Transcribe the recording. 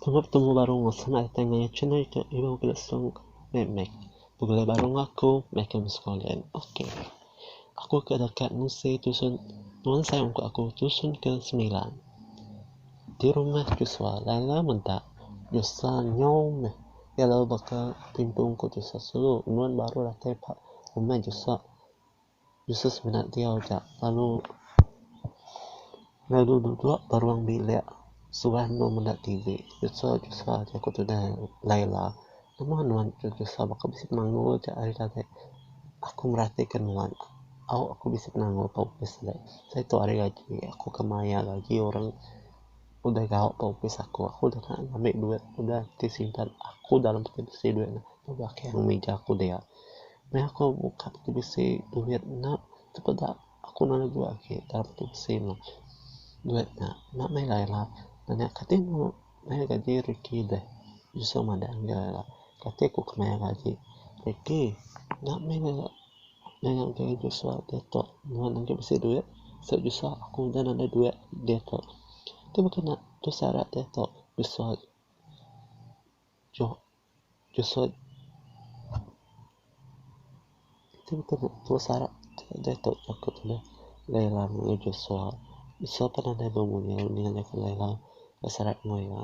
Tengah betemu barong asai enda datai ngaya chin ari ke ilu ke song meh meh pegelai barong aku meh ke mesko len ok. Aku ke deka ngusei tusun Nuan sai ungkup aku tusun ke sembilan di rumah Joshua lala meda Joshua nyau meh iya lalu baka timpu ungkup Joshua sulu Nuan baru datai ba rumah Joshua Joshua semina diau ja lalu. Lalu duduk ba ruang bilik suah endur meda TV. Jusa jusa aja ku tudah Laila. Nama nuan jusa jusa baka bisi penanggul aja hari tadi. Aku meratika nuan. Au aku bisi penanggul ba opis agi. Seh tu hari gaji aku ke mayar gaji orang udah gau ba opis aku. Aku udah tau ngambi duit udah ti simpan aku dalam peti besi duit nya. Aku agi mih aku dia. Meh aku buka peti besi duit nya aku peda. Aku nang legu agi dalam peti besi meh duit nya. Nya meh ila ila nanya kati mu mayar gaji Ricky deh. Usu madah enggau ila kati aku ke mayar gaji Ricky. Nya meh ila nanya ngagai Joshua diatu nuan agi bisi duit sebab Joshua aku udah nadai duit diatu. Tu baka nya tu syarat diatu Joshua. Jesut Ti betul ne tua sarak deh tok aku tu deh Laila mengoi Jesua. Jesua pan nadai meh mungil ninga nya ke Laila tua sarak mengoi iya.